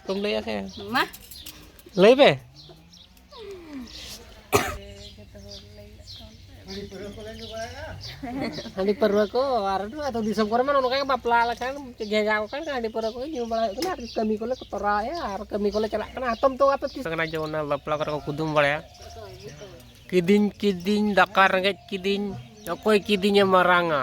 ᱠᱚᱢ ᱞᱟᱹᱭᱟ ᱥᱮ ᱢᱟ ᱞᱟᱹᱭ ᱯᱮ ᱦᱟᱺᱰᱤ ᱯᱟᱹᱨᱣᱟᱹ ᱠᱚ ᱟᱨ ᱟᱹᱛᱩ ᱫᱤᱥᱚᱢ ᱠᱚᱨᱮ ᱢᱟ ᱱᱚᱝᱠᱟ ᱜᱮ ᱵᱟᱯᱞᱟ ᱞᱮᱠᱷᱟᱱ ᱜᱷᱮᱡᱟ ᱠᱚ ᱠᱷᱟᱱ ᱦᱟᱺᱰᱤ ᱯᱟᱹᱨᱣᱟᱹ ᱠᱚ ᱧᱩ ᱵᱟᱲᱟ ᱦᱩᱭᱩᱜ ᱠᱟᱱᱟ ᱟᱨ ᱠᱟᱹᱢᱤ ᱠᱚᱞᱮ ᱛᱚᱨᱟᱣᱮᱫᱼᱟ ᱟᱨ ᱠᱟᱹᱢᱤ ᱠᱚᱞᱮ ᱪᱟᱞᱟᱜ ᱠᱟᱱᱟ ᱦᱟᱛᱚᱢ ᱛᱚ ᱟᱯᱮ ᱛᱤᱥ ᱠᱟᱱᱟ ᱡᱮᱢᱚᱱ ᱵᱟᱯᱞᱟ ᱠᱚᱨᱮ ᱠᱚ ᱠᱩᱫᱩᱢ ᱵᱟᱲᱟᱭᱟ ᱠᱤᱫᱤᱧ ᱠᱤᱫᱤᱧ ᱫᱟᱠᱟ ᱨᱮᱸᱜᱮᱡ ᱠᱤᱫᱤᱧ ᱚᱠᱚᱭ ᱠᱤᱫᱤᱧᱮ ᱢᱟᱨᱟᱝᱟ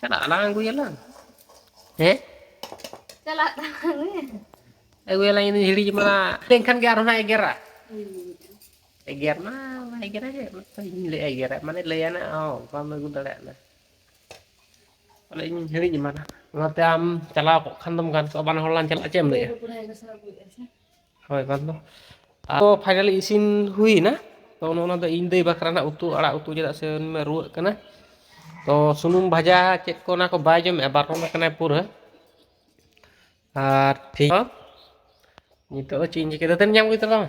ᱪᱟᱞᱟᱜ ᱟᱞᱟᱝ ᱟᱹᱜᱩᱭᱟᱞᱟᱝ ᱦᱮᱸ ᱪᱟᱞᱟᱜ ᱟᱹᱜᱩᱭᱟᱞᱟᱝ ᱤᱧ ᱦᱤᱲᱤᱧ ᱢᱟ ᱮᱱᱠᱷᱟᱱ ᱜᱮ ᱟᱨᱦᱚᱸ ᱮᱜᱮᱨᱟ ᱮᱜᱮᱨ ᱢᱟ ᱵᱟᱭ ᱮᱜᱮᱨᱟ ᱡᱮ ᱤᱧ ᱞᱟᱹᱭ ᱮᱜᱮᱨᱟ ᱢᱟᱱᱮ ᱞᱟᱹᱭᱟᱱᱟ ᱦᱚᱸ ᱵᱟᱢ ᱟᱹᱜᱩ ᱫᱟᱲᱮᱭᱟᱜᱼᱟ ᱛᱟᱦᱚᱞᱮ ᱤᱧ ᱦᱤᱲᱤᱧ ᱮᱢᱟᱱᱟ ᱚᱱᱟᱛᱮ ᱟᱢ ᱪᱟᱞᱟᱣ ᱠᱚᱜ ᱠᱷᱟᱱ ᱫᱚᱢ ᱜᱟᱱ ᱠᱚᱜᱼᱟ ᱵᱟᱱᱟ ᱦᱚᱲ ᱞᱟᱝ ᱪᱟᱞᱟᱜᱼᱟ ᱪᱮᱫ ᱮᱢ ᱞᱟᱹᱭᱟ ᱦᱳᱭ ᱵᱟᱝ ᱫᱚ ᱟᱫᱚ ᱯᱷᱟᱭᱱᱟᱞᱤ ᱤᱥᱤᱱ ᱦᱩᱭ ᱮᱱᱟ ᱛᱚ ᱱᱚᱜ ᱱᱚᱣᱟ ᱫᱚ ᱤᱧ ᱫᱟᱹᱭ ᱵᱟᱠᱷᱨᱟ ᱨᱮᱱᱟᱜ ᱩᱛᱩ ᱟᱲᱟᱜ ᱩᱛᱩ ᱪᱮᱫᱟᱜ ᱥᱮ ᱩᱱᱤ ᱢᱟ ᱨᱩᱣᱟᱹᱜ ᱠᱟᱱᱟ ᱛᱚ ᱥᱩᱱᱩᱢ ᱵᱷᱟᱡᱟ ᱪᱮᱫ ᱠᱚ ᱚᱱᱟ ᱠᱚ ᱵᱟᱭ ᱡᱚᱢᱮᱫᱼᱟ ᱵᱟᱨᱚᱱ ᱟᱠᱟᱱᱟᱭ ᱯᱩᱨᱟᱹ ᱟᱨ ᱴᱷᱤᱠ ᱱᱤᱛᱚᱜ ᱫᱚ ᱪᱮᱫ ᱤᱧ ᱪᱤᱠᱟᱹᱭᱟ ᱫᱟᱹᱛᱟᱹᱱᱤ ᱧᱟᱢ ᱦᱩᱭ ᱠᱟᱱ ᱛᱟᱢᱟ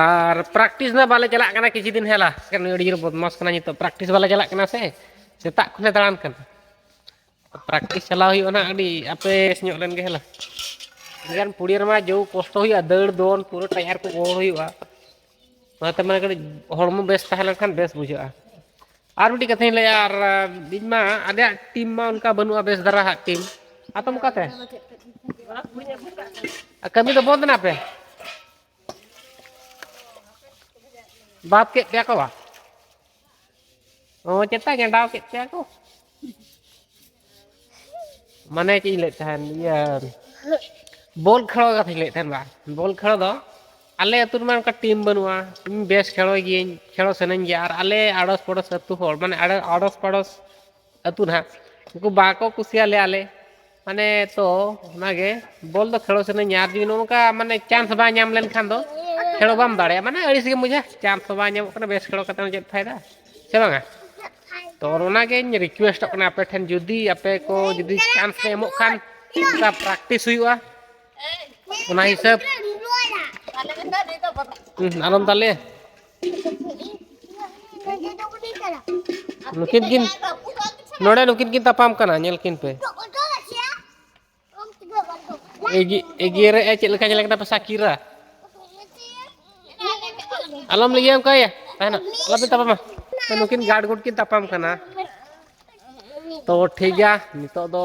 ᱟᱨ ᱯᱨᱮᱠᱴᱤᱥ ᱫᱚ ᱵᱟᱞᱮ ᱪᱟᱞᱟᱜ ᱠᱟᱱᱟ ᱠᱤᱪᱷᱩ ᱫᱤᱱ ᱦᱮᱞᱟ ᱱᱩᱭ ᱟᱹᱰᱤ ᱡᱳᱨ ᱵᱚᱫᱢᱟᱥ ᱠᱟᱱᱟ ᱱᱤᱛᱚᱜ ᱯᱨᱮᱠᱴᱤᱥ ᱵᱟᱞᱮ ᱪᱟᱞᱟᱜ ᱠᱟᱱᱟ ᱥᱮ ᱥᱮᱛᱟᱜ ᱠᱷᱚᱱᱮ ᱫᱟᱬᱟᱱ ᱠᱟᱱᱟ ᱯᱨᱮᱠᱴᱤᱥ ᱪᱟᱞᱟᱣ ᱦᱩᱭᱩᱜᱼᱟ ᱱᱟᱜ ᱟᱹᱰᱤ ᱟᱯᱮᱥ ᱧᱚᱜ ᱞᱮᱱ ᱜᱮ ᱦᱮᱞᱟ ᱮᱱᱠᱷᱟᱱ ᱯᱩᱲᱤᱭᱟᱹ ᱨᱮᱢᱟ ᱡᱚ ᱠᱚᱥᱴᱚ ᱦᱩᱭᱩᱜᱼᱟ ᱫᱟᱹᱲ ᱫᱚᱱ ᱯᱩᱨᱟᱹ ᱴᱟᱭᱟᱨ ᱠᱚ ᱜᱚᱲ ᱦᱩᱭᱩᱜᱼᱟ ᱚᱱᱟᱛᱮ ᱢᱟᱱᱮ ᱠᱟᱹᱴᱤᱡ ᱦᱚᱲᱢᱚ ᱵᱮᱥ ᱛᱟᱦᱮᱸ ᱞᱮᱱᱠᱷᱟᱱ ᱵᱮᱥ ᱵᱩᱡᱷᱟᱹᱜᱼᱟ ᱟᱨ ᱢᱤᱫᱴᱤᱡ ᱠᱟᱛᱷᱟᱧ ᱞᱟᱹᱭᱟ ᱟᱨ ᱤᱧ ᱢᱟ ᱟᱞᱮᱭᱟᱜ ᱴᱤᱢ ᱢᱟ ᱚᱱᱠᱟ ᱵᱟᱹᱱᱩᱜᱼᱟ ᱵᱮᱥ ᱫᱷᱟᱨᱟ ᱦᱟᱸᱜ ᱴᱤᱢ ᱟᱛᱚᱢ ᱚᱠᱟᱛᱮ ᱠᱟᱹᱢᱤ ᱫᱚ ᱵᱚᱱᱫ ᱮᱱᱟ ᱯᱮ ᱵᱟᱫ ᱠᱮᱫ ᱯᱮᱭᱟ ᱠᱚ ᱵᱟ ᱚ ᱪᱮᱛᱟ ᱜᱮᱸᱰᱟᱣ ᱠᱮᱫ ᱯᱮᱭᱟ ᱠᱚ ᱢᱟᱱᱮ ᱪᱮᱫ ᱤᱧ ᱞᱟᱹᱭᱮᱫ ᱛᱟᱦᱮᱱ ᱤᱭᱟᱹ ᱵᱚᱞ ᱠᱷᱮᱞ ᱠᱟᱛᱷᱟᱧ ᱞᱟᱹᱭᱮᱫ ᱛᱟᱦᱮᱱ ᱵᱟᱝ ᱵᱚᱞ ᱠᱷᱮᱞ ᱫᱚ ᱟᱞᱮ ᱟᱹᱛᱩ ᱨᱮᱢᱟ ᱚᱱᱠᱟ ᱴᱤᱢ ᱵᱟᱹᱱᱩᱜᱼᱟ ᱤᱧ ᱵᱮᱥ ᱠᱷᱮᱞᱳᱭ ᱜᱤᱭᱟᱹᱧ ᱠᱷᱮᱞᱳ ᱥᱟᱱᱟᱧ ᱜᱮᱭᱟ ᱟᱨ ᱟᱞᱮ ᱟᱲᱚᱥ ᱯᱟᱲᱚᱥ ᱟᱹᱛᱩ ᱦᱚᱲ ᱢᱟᱱᱮ ᱟᱲᱚᱥ ᱯᱟᱲᱚᱥ ᱟᱹᱛᱩ ᱱᱟᱦᱟᱜ ᱩᱱᱠᱩ ᱵᱟᱠᱚ ᱠᱩᱥᱤᱭᱟᱞᱮᱭᱟ ᱟᱞᱮ ᱢᱟᱱᱮ ᱛᱚ ᱚᱱᱟᱜᱮ ᱵᱚᱞ ᱫᱚ ᱠᱷᱮᱞᱳ ᱥᱟᱱᱟᱧ ᱟᱨ ᱡᱩᱫᱤ ᱱᱚᱝᱠᱟ ᱢᱟᱱᱮ ᱪᱟᱱᱥ ᱵᱟᱝ ᱧᱟᱢ ᱞᱮᱱᱠᱷᱟᱱ ᱫᱚ ᱠᱷᱮᱞᱳ ᱵᱟᱢ ᱫᱟᱲᱮᱭᱟᱜᱼᱟ ᱢᱟᱱᱮ ᱟᱹᱲᱤᱥ ᱜᱮᱢ ᱵᱩᱡᱟ ᱪᱟᱱᱥ ᱦᱚᱸ ᱵᱟᱝ ᱧᱟᱢᱚᱜ ᱠᱟᱱᱟ ᱵᱮᱥ ᱠᱷᱮᱞᱳ ᱠᱟᱛᱮ ᱦᱚᱸ ᱪᱮᱫ ᱯᱷᱟᱭᱫᱟ ᱥᱮ ᱵᱟᱝᱟ ᱛᱚ ᱚᱱᱟᱜᱮᱧ ᱨᱤᱠᱩᱭᱮᱥᱴᱚᱜ ᱠᱟᱱᱟ ᱟᱯᱮ ᱴᱷᱮᱱ ᱡᱩᱫᱤ ᱟᱯᱮ ᱠᱚ ᱡᱩᱫᱤ ᱪᱟᱱᱥ ᱯᱮ ᱮᱢᱚᱜ ᱠᱷᱟᱱ ᱚᱱᱠᱟ ᱯᱨᱮᱠᱴᱤᱥ ᱦᱩᱭᱩᱜᱼᱟ ᱚᱱᱟ ᱦᱤᱥᱟᱹᱵ ᱟᱞᱚᱢ ᱛᱟᱞᱮ ᱱᱩᱠᱤᱱ ᱠᱤᱱ ᱱᱚᱰᱮ ᱱᱩᱠᱤᱱ ᱠᱤᱱ ᱛᱟᱯᱟᱢ ᱠᱟᱱᱟ ᱧᱮᱞ ᱠᱤᱱ ᱯᱮ ᱮᱜᱮᱨ ᱮ ᱪᱮᱫ ᱞᱮᱠᱟ ᱧᱮᱞ ᱠᱟᱱᱟ ᱯᱮ ᱥᱟᱠᱤᱨᱟ ᱟᱞᱚᱢ ᱞᱟᱹᱭᱟ ᱚᱱᱠᱟ ᱭᱟ ᱛᱟᱦᱮᱱᱟ ᱟᱞᱚᱯᱮ ᱛᱟᱯᱟᱢᱟ ᱱᱩᱠᱤᱱ ᱜᱟᱰ ᱜᱩᱰ ᱠᱤᱱ ᱛᱟᱯᱟᱢ ᱠᱟᱱᱟ ᱛᱚ ᱴᱷᱤᱠ ᱜᱮᱭᱟ ᱱᱤᱛᱚᱜ ᱫᱚ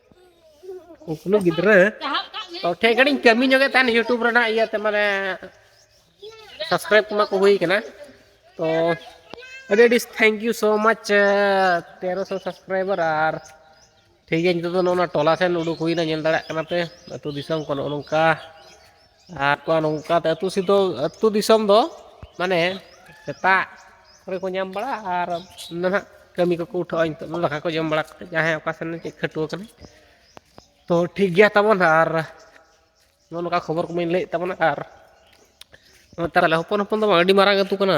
ᱠᱩᱠᱞᱩ ᱜᱤᱫᱽᱨᱟᱹ ᱛᱚ ᱴᱷᱮᱡ ᱜᱟᱹᱰᱤᱧ ᱠᱟᱹᱢᱤ ᱧᱚᱜᱮ ᱛᱟᱦᱮᱱ ᱤᱭᱩᱴᱩᱵᱽ ᱨᱮᱱᱟᱜ ᱤᱭᱟᱹᱛᱮ ᱢᱟᱱᱮ ᱥᱟᱵᱥᱠᱨᱟᱭᱤᱵ ᱠᱚᱢᱟ ᱠᱚ ᱦᱩᱭ ᱠᱟᱱᱟ ᱛᱚ ᱟᱹᱰᱤ ᱟᱹᱰᱤ ᱛᱷᱮᱝᱠ ᱭᱩ ᱥᱳ ᱢᱟᱪ ᱛᱮᱨᱚ ᱥᱚ ᱥᱟᱵᱥᱠᱨᱟᱭᱵᱟᱨ ᱟᱨ ᱴᱷᱤᱠ ᱜᱮᱭᱟ ᱱᱤᱛᱚᱜ ᱫᱚ ᱱᱚᱜᱼᱚ ᱱᱚᱣᱟ ᱴᱚᱞᱟ ᱥᱮᱱ ᱩᱰᱩᱠ ᱦᱩᱭᱱᱟ ᱧᱮᱞ ᱫᱟᱲᱮᱭᱟᱜ ᱠᱟᱱᱟ ᱯᱮ ᱟᱹᱛᱩ ᱫᱤᱥᱚᱢ ᱠᱚ ᱱᱚᱜᱼᱚ ᱱᱚᱝᱠᱟ ᱟᱨ ᱠᱚᱣᱟᱜ ᱱᱚᱝᱠᱟ ᱟᱹᱛᱩ ᱥᱤᱫᱚ ᱟᱹᱛᱩ ᱫᱤᱥᱚᱢ ᱫᱚ ᱢᱟᱱᱮ ᱥᱮᱛᱟᱜ ᱠᱚᱨᱮ ᱠᱚ ᱧᱟᱢ ᱵᱟᱲᱟᱜᱼᱟ ᱟᱨ ᱱᱟᱦᱟᱜ ᱠᱟᱹᱢᱤ ᱠᱚᱠᱚ ᱩᱴᱷᱟᱹᱜᱼᱟ ᱱᱤᱛᱚᱜ ᱫᱚ ᱫᱟᱠᱟ ᱠᱚ ᱡᱚᱢ ᱵᱟᱲᱟ ᱠᱟᱛᱮᱫ ᱡᱟᱦᱟᱸᱭ ᱚᱠᱟ ᱥᱮᱱ ᱪᱮᱫ ᱠᱷᱟᱹᱴᱣᱟᱹ ᱠᱟᱱᱟ ᱛᱚ ᱴᱷᱤᱠ ᱜᱮᱭᱟ ᱛᱟᱵᱚᱱ ᱦᱟᱸᱜ ᱟᱨ ᱱᱚᱜᱼᱚ ᱱᱚᱝᱠᱟ ᱠᱷᱚᱵᱚᱨ ᱠᱚᱢᱟᱹᱧ ᱞᱟᱹᱭᱮᱫ ᱛᱟᱵᱚᱱᱟ ᱟᱨ ᱱᱮᱛᱟᱨ ᱟᱞᱮ ᱦᱚᱯᱚᱱ ᱦᱚᱯᱚᱱ ᱫᱚ ᱵᱟᱝ ᱟᱹᱰᱤ ᱢᱟᱨᱟᱝ ᱟᱹᱛᱩ ᱠᱟᱱᱟ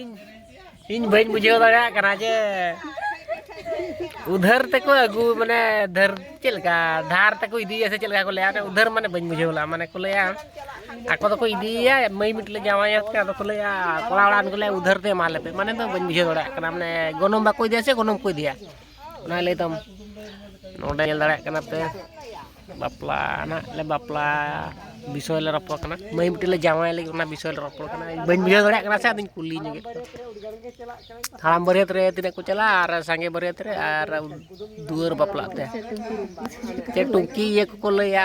ᱤᱧ ᱤᱧ ᱵᱟᱹᱧ ᱵᱩᱡᱷᱟᱹᱣ ᱫᱟᱲᱮᱭᱟᱜ ᱠᱟᱱᱟ ᱡᱮ ᱩᱫᱷᱟᱹᱨ ᱛᱮᱠᱚ ᱟᱹᱜᱩ ᱢᱟᱱᱮ ᱫᱷᱟᱹᱨ ᱪᱮᱫ ᱞᱮᱠᱟ ᱫᱷᱟᱨ ᱛᱮᱠᱚ ᱤᱫᱤᱭᱟ ᱥᱮ ᱪᱮᱫ ᱞᱮᱠᱟ ᱠᱚ ᱞᱟᱹᱭᱟ ᱩᱫᱷᱟᱹᱨ ᱢᱟᱱᱮ ᱵᱟᱹᱧ ᱵᱩᱡᱷᱟᱹᱣ ᱞᱮᱫᱟ ᱢᱟᱱᱮ ᱠᱚ ᱞᱟᱹᱭᱟ ᱟᱠᱚ ᱫᱚᱠᱚ ᱤᱫᱤᱭᱮᱭᱟ ᱢᱟᱹᱭ ᱢᱤᱫ ᱞᱮ ᱡᱟᱶᱟᱭᱟ ᱥᱮ ᱟᱫᱚ ᱠᱚ ᱞᱟᱹᱭᱟ ᱠᱚᱲᱟ ᱚᱲᱟᱜ ᱠᱚ ᱞᱟᱹᱭᱟ ᱩᱫᱷᱟᱹᱨ ᱛᱮ ᱮᱢᱟ ᱞᱮᱯᱮ ᱢᱟᱱᱮ ᱫᱚ ᱵᱟᱹᱧ ᱵᱩᱡᱷᱟᱹᱣ ᱫᱟᱲᱮᱭᱟᱜ ᱠᱟᱱᱟ ᱢᱟᱱᱮ ᱜᱚᱱᱚᱝ ᱵᱟᱠᱚ ᱤᱫᱤᱭᱟ ᱥᱮ ᱜᱚᱱᱚᱝ ᱠᱚ ᱤᱫᱤᱭᱟ ᱚᱱᱟ ᱞᱟᱹᱭ ᱛᱟᱢ ᱱᱚᱰᱮ ᱧᱮᱞ ᱫᱟᱲᱮᱭᱟᱜ ᱠᱟᱱᱟ ᱯᱮ ᱵᱟᱯᱞᱟ ᱱᱟᱜ ᱞᱮ ᱵᱟᱯᱞᱟ ᱵᱤᱥᱚᱭ ᱞᱮ ᱨᱚᱯᱚᱲ ᱠᱟᱱᱟ ᱢᱟᱹᱭ ᱢᱤᱫᱴᱮᱱ ᱞᱮ ᱡᱟᱶᱟᱭ ᱞᱟᱹᱜᱤᱫ ᱚᱱᱟ ᱵᱤᱥᱚᱭ ᱞᱮ ᱨᱚᱯᱚᱲ ᱠᱟᱱᱟ ᱵᱟᱹᱧ ᱵᱩᱡᱷᱟᱹᱣ ᱫᱟᱲᱮᱭᱟᱜ ᱠᱟᱱᱟ ᱥᱮ ᱟᱫᱚᱧ ᱠᱩᱞᱤ ᱧᱚᱜᱮᱫ ᱠᱚᱣᱟ ᱦᱟᱲᱟᱢ ᱵᱟᱹᱨᱭᱟᱹᱛ ᱨᱮ ᱛᱤᱱᱟᱹᱜ ᱠᱚ ᱪᱟᱞᱟᱜᱼᱟ ᱟᱨ ᱥᱟᱸᱜᱮ ᱵᱟᱹᱨᱭᱟᱹᱛ ᱨᱮ ᱟᱨ ᱫᱩᱣᱟᱹᱨ ᱵᱟᱯᱞᱟᱜ ᱛᱮ ᱪᱮᱫ ᱴᱩᱝᱠᱤ ᱤᱭᱟᱹ ᱠᱚᱠᱚ ᱞᱟᱹᱭᱟ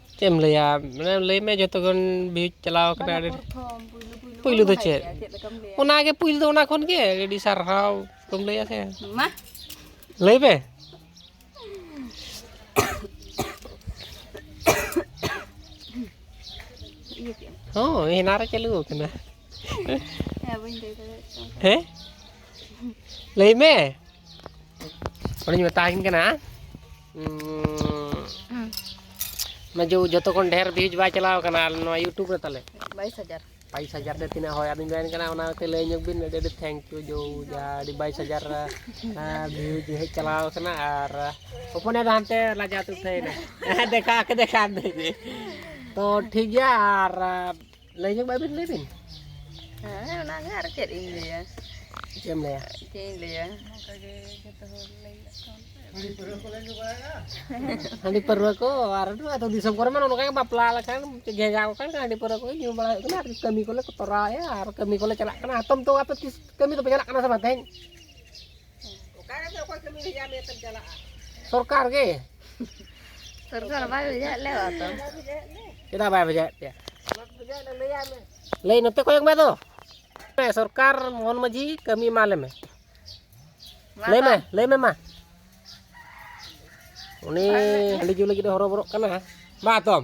ᱪᱮᱫ ᱮᱢ ᱞᱟᱹᱭᱟ ᱢᱟᱱᱮ ᱞᱟᱹᱭ ᱢᱮ ᱡᱚᱛᱚ ᱠᱷᱚᱱ ᱵᱷᱤᱭᱩᱡᱽ ᱪᱟᱞᱟᱣ ᱠᱟᱱᱟ ᱟᱹᱰᱤ ᱯᱩᱭᱞᱩ ᱫᱚ ᱪᱮᱫ ᱚᱱᱟ ᱜᱮ ᱯᱩᱭᱞᱩ ᱫᱚ ᱚᱱᱟ ᱠᱷᱚᱱ ᱜᱮ ᱟᱹᱰᱤ ᱥᱟᱨᱦᱟᱣ ᱠᱚᱢ ᱞᱟᱹᱭᱟ ᱥᱮ ᱢᱟ ᱞᱟᱹᱭ ᱢᱮ ᱦᱚᱸ ᱦᱮᱱᱟ ᱨᱮ ᱪᱟᱹᱞᱩ ᱟᱠᱟᱱᱟ ᱦᱮᱸ ᱞᱟᱹᱭ ᱢᱮ ᱚᱱᱮᱧ ᱢᱮᱛᱟᱦᱤᱱ ᱠᱟᱱᱟ ᱢᱟᱡᱩ ᱡᱚᱛᱚ ᱠᱷᱚᱱ ᱰᱷᱮᱨ ᱵᱷᱤᱭᱩᱡᱽ ᱵᱟᱭ ᱪᱟᱞᱟᱣ ᱠᱟᱱᱟ ᱱᱚᱣᱟ ᱤᱭᱩᱴᱩᱵᱽ ᱨᱮ ᱛᱟᱞᱮ 22000 22000 ᱛᱮ ᱛᱤᱱᱟᱹᱜ ᱦᱚᱭ ᱟᱫᱤᱧ ᱢᱮᱱ ᱠᱟᱱᱟ ᱚᱱᱟ ᱛᱮ ᱞᱟᱹᱭ ᱧᱚᱜ ᱵᱤᱱ ᱟᱹᱰᱤ ᱟᱹᱰᱤ ᱛᱷᱮᱝᱠ ᱭᱩ ᱡᱚ ᱡᱟ ᱟᱹᱰᱤ 22000 ᱵᱷᱤᱭᱩᱡᱽ ᱦᱮᱡ ᱪᱟᱞᱟᱣ ᱠᱟᱱᱟ ᱟᱨ ᱦᱚᱯᱚᱱᱮ ᱫᱚ ᱦᱟᱱᱛᱮ ᱞᱟᱡᱟ ᱛᱩ ᱥᱮᱭᱱᱟ ᱫᱮᱠᱷᱟ ᱠᱮ ᱫᱮᱠᱷᱟ ᱫᱮ ᱛᱚ ᱴᱷᱤᱠ ᱜᱮᱭᱟ ᱟᱨ ᱞᱟᱹᱭ ᱧᱚᱜ ᱵᱟᱭ ᱵᱤᱱ ᱞᱟᱹᱭ ᱵᱤᱱ ᱦᱮᱸ ᱚᱱᱟᱜᱮ ᱟᱨ ᱪᱮᱫ ᱤᱧ ᱞᱟᱹᱭᱟ ᱪᱮᱫ ᱮᱢ ᱞᱟᱹᱭᱟ ᱪᱮᱫ ᱤᱧ ᱞᱟᱹᱭᱟ ᱚᱱᱠᱟᱜᱮ ᱡᱚᱛᱚ ᱦᱚᱲ ᱞᱟᱹᱭ ᱦᱟᱺᱰᱤ ᱯᱟᱹᱨᱣᱟᱹ ᱠᱚ ᱟᱨ ᱟᱹᱛᱩ ᱫᱤᱥᱚᱢ ᱠᱚᱨᱮ ᱢᱟ ᱱᱚᱝᱠᱟ ᱵᱟᱯᱞᱟ ᱞᱮᱠᱷᱟᱱ ᱜᱷᱮᱡᱟ ᱠᱚ ᱠᱷᱟᱱ ᱦᱟᱺᱰᱤ ᱯᱟᱹᱨᱣᱟᱹ ᱠᱚ ᱧᱩ ᱵᱟᱲᱟ ᱦᱩᱭᱩᱜ ᱠᱟᱱᱟ ᱟᱨ ᱠᱟᱹᱢᱤ ᱠᱚᱞᱮ ᱛᱚᱨᱟᱣᱮᱫᱼᱟ ᱟᱨ ᱠᱟᱹᱢᱤ ᱠᱚᱞᱮ ᱪᱟᱞᱟᱜ ᱠᱟᱱᱟ ᱦᱟᱛᱚᱢ ᱛᱚ ᱟᱯᱮ ᱛᱤᱥ ᱠᱟᱹᱢᱤ ᱫᱚᱯᱮ ᱪᱟᱞᱟᱜ ᱠᱟᱱᱟ ᱥᱮ ᱵᱟᱝ ᱛᱮᱦᱮᱧ ᱥᱚᱨᱠᱟᱨ ᱜᱮ ᱥᱚᱨᱠᱟᱨ ᱵᱟᱭ ᱵᱷᱮᱡᱟᱭᱮᱫ ᱞᱮ ᱛᱚ ᱪᱮᱫᱟᱜ ᱵᱟᱭ ᱵᱷᱮᱡᱟᱭᱮᱫ ᱯᱮᱭᱟ ᱞᱟᱹᱭ ᱱᱚᱛᱮ ᱠᱚᱭᱚᱜ ᱢᱮ ᱫᱚ ᱥᱚᱨᱠᱟᱨ ᱢᱚᱦᱚᱱ ᱢᱟᱹᱡᱷᱤ ᱠᱟᱹᱢᱤ ᱮᱢᱟ ᱞᱮᱢᱮ ᱞᱟᱹᱭ ᱢᱮ ᱞᱟᱹᱭ ᱢᱮ ᱢᱟ ᱩᱱᱤ ᱦᱟᱺᱰᱤ ᱡᱩ ᱞᱟᱹᱜᱤᱫ ᱦᱚᱨᱚᱵᱚᱨᱚᱜ ᱠᱟᱱᱟ ᱢᱟ ᱛᱚᱢ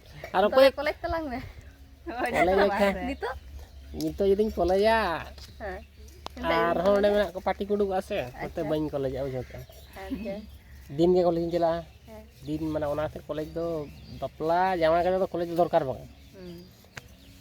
ᱟᱨ ᱚᱠᱚᱭ ᱠᱚᱞᱮᱡᱽ ᱛᱟᱞᱟᱝ ᱢᱮ ᱠᱚᱞᱮᱡᱽ ᱞᱮᱠᱷᱟᱱ ᱱᱤᱛᱚᱜ ᱱᱤᱛᱚᱜ ᱡᱩᱫᱤᱧ ᱠᱚᱞᱮᱡᱟ ᱟᱨᱦᱚᱸ ᱚᱸᱰᱮ ᱢᱮᱱᱟᱜ ᱠᱚ ᱯᱟᱴᱤ ᱠᱚ ᱩᱰᱩᱠᱚᱜᱼᱟ ᱥᱮ ᱚᱱᱟᱛᱮ ᱵᱟᱹᱧ ᱠᱚᱞᱮᱡᱟ ᱵᱩᱡᱷᱟᱹᱣ ᱠᱮᱜᱼᱟ ᱫᱤᱱ ᱜᱮ ᱠᱚᱞᱮᱡᱽ ᱤᱧ ᱪᱟᱞᱟᱜᱼᱟ ᱫᱤᱱ ᱢᱟᱱᱮ ᱚᱱᱟᱛᱮ ᱠᱚᱞᱮᱡᱽ ᱫᱚ ᱵᱟᱯᱞᱟ ᱡᱟᱶᱟᱭ ᱠᱟᱛᱮ ᱫᱚ ᱠᱚᱞᱮᱡᱽ ᱫᱚ ᱫᱚᱨᱠᱟᱨ ᱵᱟᱝ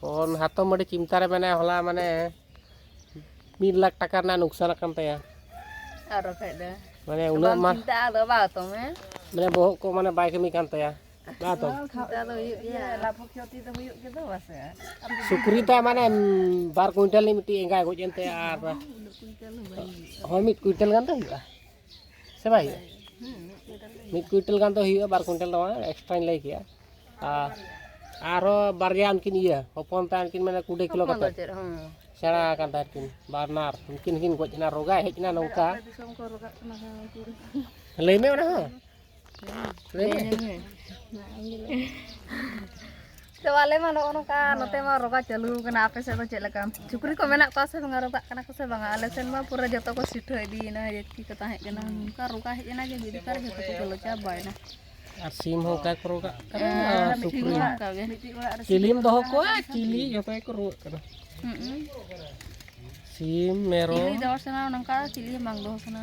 ᱯᱚᱱ ᱦᱟᱛᱚᱢ ᱟᱹᱰᱤ ᱪᱤᱱᱛᱟ ᱨᱮ ᱢᱮᱱᱟᱭᱟ ᱦᱚᱞᱟ ᱢᱟᱱᱮ ᱢᱤᱫ ᱞᱟᱠᱷ ᱴᱟᱠᱟ ᱨᱮᱱᱟᱜ ᱱᱩᱠᱥᱟᱱ ᱟᱠᱟᱱ ᱛᱟᱭᱟ ᱟᱨ ᱵᱟᱠᱷᱟᱡ ᱫᱚ ᱢᱟᱱᱮ ᱩᱱᱟᱹᱜ ᱢᱟ ᱪᱤᱱᱛᱟ ᱟᱫᱚ ᱵᱟ ᱦᱟᱛᱚᱢ ᱦᱮᱸ ᱢᱟᱱᱮ ᱵᱚᱦᱚᱜ ᱠᱚ ᱢᱟᱱᱮ ᱵᱟᱭ ᱠᱟᱹᱢᱤ ᱠᱟᱱ ᱛᱟᱭᱟ ᱵᱟ ᱦᱟᱛᱚᱢ ᱪᱤᱱᱛᱟ ᱫᱚ ᱦᱩᱭᱩᱜ ᱜᱮᱭᱟ ᱞᱟᱵᱷ ᱠᱷᱚᱛᱤ ᱫᱚ ᱦᱩᱭᱩᱜ ᱜᱮ ᱫᱚ ᱵᱟᱥᱮ ᱥᱩᱠᱨᱤ ᱛᱟ ᱢᱟᱱᱮ ᱵᱟᱨ ᱠᱩᱭᱱᱴᱟᱞ ᱨᱤᱱᱤᱡ ᱢᱤᱫᱴᱤᱡ ᱮᱸᱜᱟᱭ ᱜᱚᱡ ᱮᱱ ᱛᱟᱭᱟ ᱟᱨ ᱦᱳᱭ ᱢᱤᱫ ᱠᱩᱭᱱᱴᱟᱞ ᱜᱟᱱ ᱫᱚ ᱦᱩᱭᱩᱜᱼᱟ ᱥᱮ ᱵᱟᱭ ᱦᱩᱭᱩᱜᱼᱟ ᱢᱤᱫ ᱠᱩᱭᱤᱱᱴᱟᱞ ᱜᱟᱱ ᱫᱚ ᱦᱩᱭᱩᱜᱼᱟ ᱵᱟᱨ ᱠᱩᱭᱤᱱᱴᱟᱞ ᱫᱚ ᱵᱟᱝ ᱮᱠᱥᱴᱨᱟᱧ ᱞᱟᱹᱭ ᱠᱮᱜᱼᱟ ᱟᱨ ᱟᱨᱦᱚᱸ ᱵᱟᱨᱭᱟ ᱩᱱᱠᱤᱱ ᱤᱭᱟᱹ ᱦᱚᱯᱚᱱ ᱛᱟᱭ ᱩᱱᱠᱤᱱ ᱢᱟᱱᱮ ᱠᱩᱲᱤ ᱠᱤᱞᱳ ᱠᱟᱛᱮ ᱥᱮᱬᱟ ᱟᱠᱟᱱ ᱛᱟᱭ ᱩᱱᱠᱤᱱ ᱵᱟᱨᱱᱟᱨ ᱩᱱᱠᱤᱱ ᱦᱚᱸᱠᱤᱱ ᱜᱚᱡ ᱮᱱᱟ ᱨᱳᱜᱟ ᱦᱮᱡ ᱮᱱᱟ ᱱᱚᱝᱠᱟ ᱞᱟᱹᱭ ᱢᱮ ᱚᱱᱟ ᱦᱚᱸ ᱛᱚ ᱟᱞᱮ ᱢᱟ ᱱᱚᱜᱼᱚ ᱱᱚᱝᱠᱟ ᱱᱚᱛᱮ ᱢᱟ ᱨᱚᱜᱟ ᱪᱟᱹᱞᱩ ᱠᱟᱱᱟ ᱟᱯᱮ ᱥᱮᱫ ᱫᱚ ᱪᱮᱫ ᱞᱮᱠᱟ ᱥᱩᱠᱨᱤ ᱠᱚ ᱢᱮᱱᱟᱜ ᱠᱚᱣᱟ ᱥᱮ ᱵᱟᱝᱟ ᱨᱚᱜᱟᱜ ᱠᱟᱱᱟ ᱠᱚ ᱥᱮ ᱵᱟᱝᱟ ᱟᱞᱮ ᱥᱮᱱ ᱢᱟ ᱯᱩᱨᱟᱹ ᱡᱚᱛᱚ ᱠᱚ ᱥᱤᱴᱷᱟᱹ ᱤᱫᱤᱭᱮᱱᱟ ᱡᱟᱹᱛᱤ ᱠᱚ ᱛᱟᱦᱮᱸ ᱠᱟᱱᱟ ᱱᱚᱝᱠᱟ ᱨᱚᱜᱟ ᱦᱮᱡ ᱮᱱᱟ ᱡᱮ ᱢᱤᱫ ᱞᱮᱛᱟᱨ ᱡᱚᱛᱚ ᱠᱚ ᱜᱚᱞᱚ ᱪᱟᱵᱟᱭᱮᱱᱟ ᱟᱨ ᱥᱤᱢ ᱦᱚᱸ ᱚᱱᱠᱟ ᱠᱚ ᱨᱚᱜᱟᱜ ᱠᱟᱱᱟ ᱟᱨ ᱥᱩᱠᱨᱤ ᱦᱚᱸ ᱚᱱᱠᱟ ᱜᱮ ᱢᱤᱫᱴᱤᱡ ᱚᱲᱟᱜ ᱨᱮ ᱪᱤᱞᱤᱢ ᱫᱚᱦᱚ ᱠᱚᱣᱟ ᱪᱤᱞᱤ ᱡᱚᱛᱚ ᱜᱮᱠᱚ ᱨᱩᱣᱟᱹᱜ ᱠᱟᱱᱟ ᱥᱤᱢ ᱢᱮᱨᱚᱢ ᱪᱤᱞᱤ ᱫᱚᱦᱚ ᱥᱟᱱᱟ ᱱᱚᱝᱠᱟ ᱪᱤᱞᱤ ᱵᱟᱝ ᱫᱚᱦᱚ ᱥᱟᱱᱟ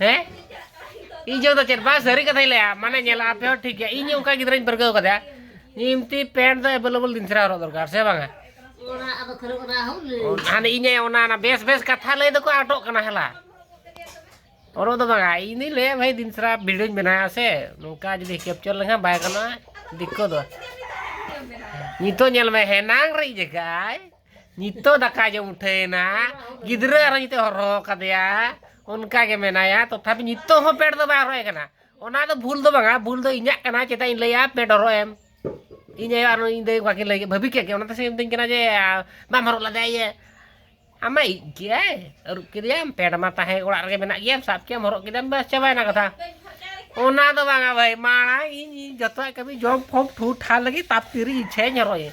ᱦᱮᱸ ᱤᱧ ᱡᱚᱫᱚ ᱪᱮᱫ ᱵᱟᱝ ᱥᱟᱹᱨᱤ ᱠᱟᱛᱷᱟᱧ ᱞᱟᱹᱭᱟ ᱢᱟᱱᱮ ᱧᱮᱞᱟ ᱟᱯᱮ ᱦᱚᱸ ᱴᱷᱤᱠ ᱜᱮᱭᱟ ᱤᱧ ᱚᱱᱠᱟ ᱜᱤᱫᱽᱨᱟᱹᱧ ᱯᱟᱹᱨᱠᱟᱹᱣ ᱠᱟᱫᱮᱭᱟ ᱤᱢᱛᱤ ᱯᱮᱱᱴ ᱫᱚ ᱮᱵᱮᱞᱮᱵᱮᱞ ᱫᱤᱱ ᱥᱮᱨᱟ ᱦᱚᱨᱚᱜ ᱫᱚᱨᱠᱟᱨ ᱥᱮ ᱵᱟᱝᱟ ᱦᱟᱱᱮ ᱤᱧ ᱚᱱᱟ ᱚᱱᱟ ᱵᱮᱥ ᱵᱮᱥ ᱠᱟᱛᱷᱟ ᱞᱟᱹᱭ ᱫᱚᱠᱚ ᱟᱴᱚᱜ ᱠᱟᱱᱟ ᱦᱮᱞᱟ ᱚᱨᱚ ᱫᱚ ᱵᱟᱝᱟ ᱤᱧ ᱫᱩᱧ ᱞᱟᱹᱭᱟ ᱵᱷᱟᱭ ᱫᱤᱱ ᱥᱮᱨᱟ ᱵᱷᱤᱰᱤᱭᱳᱧ ᱵᱮᱱᱟᱣᱟ ᱥᱮ ᱱᱚᱝᱠᱟ ᱡᱩᱫᱤ ᱠᱮᱯᱪᱚᱨ ᱞᱮᱠᱷᱟᱱ ᱵᱟᱭ ᱜᱟᱱᱚᱜᱼᱟ ᱫᱤᱠᱠᱚ ᱫᱚ ᱱᱤᱛᱚᱜ ᱧᱮᱞ ᱢᱮ ᱦᱮᱱᱟᱝ ᱨᱮ ᱡᱟᱭᱜᱟᱭ ᱱᱤᱛᱚᱜ ᱫᱟᱠᱟ ᱡᱚᱢ ᱩᱴᱷᱟᱹᱭᱮᱱᱟ ᱜᱤᱫᱽᱨᱟᱹ ᱟᱨᱚ ᱱᱤᱛᱚᱜ ᱦᱚᱨᱦᱚ ᱠᱟᱫᱮᱭᱟ ᱚᱱᱠᱟ ᱜᱮ ᱢᱮᱱᱟᱭᱟ ᱛᱚᱛᱷᱟᱯᱤ ᱱᱤᱛᱚᱜ ᱦᱚᱸ ᱯᱮᱰ ᱫᱚ ᱵᱟᱭ ᱦᱚᱨᱚᱭ ᱠᱟᱱᱟ ᱚᱱᱟ ᱫᱚ ᱵᱷᱩᱞ ᱫᱚ ᱵᱟᱝᱟ ᱵᱷᱩᱞ ᱫᱚ ᱤᱧᱟᱹᱜ ᱠᱟᱱᱟ ᱪᱮᱫᱟᱜ ᱤᱧ ᱞᱟᱹᱭᱟ ᱯᱮᱰ ᱦᱚᱨᱚᱜ ᱮᱢ ᱤᱧ ᱟᱭᱳ ᱟᱨ ᱤᱧ ᱫᱟᱹᱭ ᱵᱟᱹᱠᱤᱱ ᱞᱟᱹᱭ ᱵᱷᱟᱹᱵᱤ ᱠᱮᱫ ᱜᱮ ᱚᱱᱟᱛᱮ ᱥᱮ ᱢᱤᱛᱟᱹᱧ ᱠᱟᱱᱟ ᱡᱮ ᱵᱟᱢ ᱦᱚᱨᱚᱜ ᱞᱮᱫᱟ ᱤᱭᱟᱹ ᱟᱢᱟᱭ ᱤᱡ ᱜᱮᱭᱟᱭ ᱟᱹᱨᱩᱵ ᱠᱮᱫᱮᱭᱟᱢ ᱯᱮᱰ ᱢᱟ ᱛᱟᱦᱮᱸ ᱚᱲᱟᱜ ᱨᱮᱜᱮ ᱢᱮᱱᱟᱜ ᱜᱮᱭᱟ ᱥᱟᱵ ᱠᱮᱫᱟᱢ ᱦᱚᱨᱚᱜ ᱠᱮᱫᱟᱢ ᱵᱟᱥ ᱪᱟᱵᱟᱭᱮᱱᱟ ᱠᱟᱛᱷᱟ ᱚᱱᱟ ᱫᱚ ᱵᱟᱝᱟ ᱵᱷᱟᱹᱭ ᱢᱟᱲᱟᱝ ᱤᱧ ᱡᱚᱛᱚᱣᱟᱜ ᱠᱟᱹᱢᱤ ᱡᱚᱢ ᱯᱷᱚᱢ ᱴᱷᱩ ᱴᱷᱟ ᱞᱟᱹᱜᱤᱫ ᱛᱟᱯ ᱛᱤᱨᱤᱧ ᱤᱪᱪᱷᱟᱹᱧ ᱦᱚᱨᱚᱜ ᱤᱧ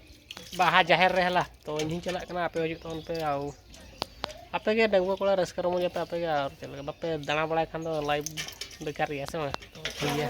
ᱵᱟᱦᱟ ᱡᱟᱦᱮᱨ ᱨᱮ ᱦᱮᱞᱟ ᱛᱚ ᱤᱧ ᱦᱚᱸᱧ ᱪᱟᱞᱟᱜ ᱠᱟᱱᱟ ᱟᱯᱮ ᱦᱚᱸ ᱦᱤᱡᱩᱜ ᱛᱟᱵᱚᱱ ᱯᱮ ᱟᱨ ᱟᱯᱮ ᱜᱮ ᱰᱟᱺᱜᱩᱣᱟᱹ ᱠᱚᱲᱟ ᱨᱟᱹᱥᱠᱟᱹ ᱨᱚᱢᱚᱡᱟᱯᱮ ᱟᱯᱮ ᱜᱮ ᱟᱨ ᱪᱮᱫ ᱞᱮᱠᱟ ᱵᱟᱯᱮ ᱫᱟᱬᱟ ᱵᱟᱲᱟᱭ ᱠᱷᱟᱱ ᱫᱚ ᱞᱟᱭᱤᱯᱷ ᱵᱮᱠᱟᱨ ᱜᱮᱭᱟ ᱥᱮ ᱵᱟᱝ ᱴᱷᱤᱠ ᱜᱮᱭᱟ